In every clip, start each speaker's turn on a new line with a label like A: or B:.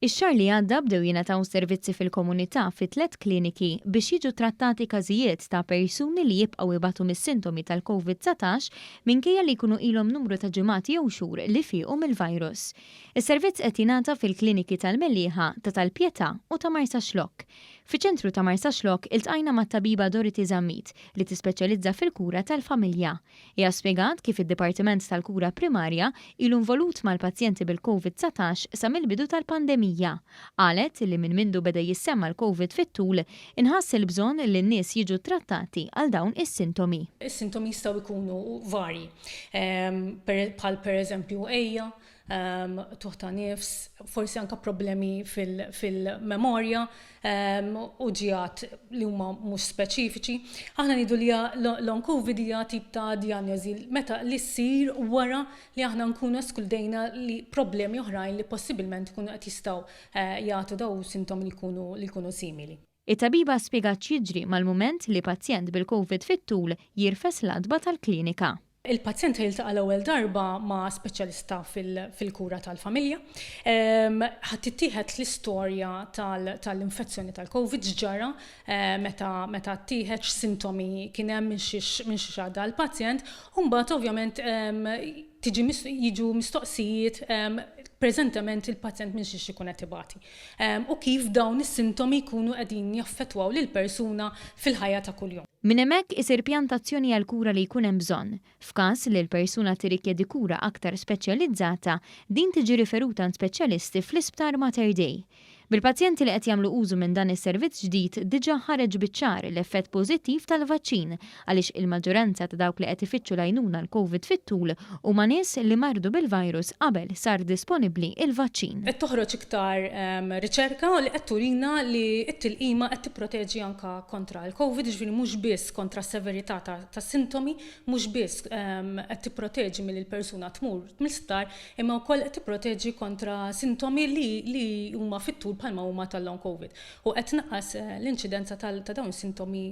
A: Ix-xahar li għadda bdew jingħataw servizzi fil-komunità fi tliet kliniki biex jiġu ttrattati każijiet ta' persuni li jibqgħu jbatu mis-sintomi tal-Covid 19 minkejja li jkunu ilhom numru ta' ġimgħat jew xhur li fiequ mill-virus. Is-servizz qed jingħata fil-kliniki tal-Mellieħa, ta' tal-Pietà u ta' Marsaxlokk. Fiċ-ċentru ta' Marsaxlokk iltqajna mat-tabiba Dorothy Zammit li tispeċjalizza fil-kura tal-familja. Hija spjegat kif id-Dipartiment tal-Kura Primarja ilu involut mal-pazjenti bil-Covid 19 sa mill-bidu tal-pandemija. Qalet li minn mindu beda jissemma l-Covid fit-tul, inħass il-bżonn li n-nies jiġu ttrattati għal dawn is-sintomi. Is-sintomi jistgħu
B: jkunu varji, bħal pereżempju għeja, ehm, tuħ ta' nifs, forsi anka problemi fil-memorja ehm, u ġijat li huma mhux speċifiċi. Aħna nidu li long covid hija tip ta' diagnosi meta li ssir wara li aħna nkunu eskludejna li problemi oħrajn li possibilment ikunu qed jistgħu eh, jagħtu daw sintomi li jkunu simili. It-tabiba spjegat
A: x'jiġri mal-mument li pazjent bil-Covid fit-tul jirfes l-għatba tal-klinika. Il-pazjent se jiltaqa'
B: l-ewwel darba ma' speċjalista fil-kura tal-familja. Ħa tittieħed l-istorja tal-infezzjoni tal-Covid, x'ġara meta ttieħed, x'sintomi kien hemm, minn xiex għadda l-pazjent, u mbagħad ovvjament jiġu mistoqsijiet preżentement il-pazjent minn xiex ikun qed ibati. u kif dawn is-sintomi jkunu qegħdin jaffettwaw lill-persuna fil-ħajja ta' kuljum. Minn hemmhekk isir
A: pjantazzjoni għall-kura li jkun hemm bżonn. F'każ li l-persuna tirrikjedi kura aktar speċjalizzata, din tiġi riferuta għand speċjalisti fl-Isptar Mater Dei. Bil-pazjenti li qed jagħmlu użu minn dan is-servizz ġdid diġà ħareġ biċ-ċar l-effett pożittiv tal-vaċċin għaliex il-maġġoranza ta' dawk li qed ifittxu l-għajnuna l-Covid fit-tul huma nies li mardu bil-virus qabel sar disponibbli l-vaċċin. Qed toħroġ iktar
B: riċerka li qed turina li t-tilqima qed tipproteġi anke kontra l-Covid, jiġifieri mhux biss kontra s-severità tas-sintomi, mhux biss qed tipproteġi milli l-persuna tmur mill-isptar, imma wkoll qed tipproteġi kontra sintomi li huma fit-tul bħalma huma tal-Long Covid. U qed tnaqqas l-inċidenza ta' dawn is-sintomi.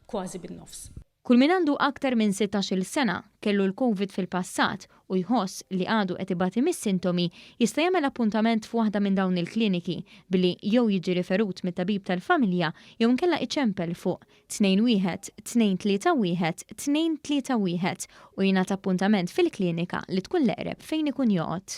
B: kważi bin-nofs. Kull min għandu
A: aktar minn sittax-il sena, kellu l-Covid fil-passat u jħoss li għadu qed ibati mis-sintomi jista' jagħmel appuntament f'waħda minn dawn il-kliniki billi jew jiġi riferut mit-tabib tal-familja jew inkella iċempel fuq 2 1 2 3 1 2 3 1 u jingħata appuntament fil-klinika li tkun l-eqreb fejn ikun joqgħod.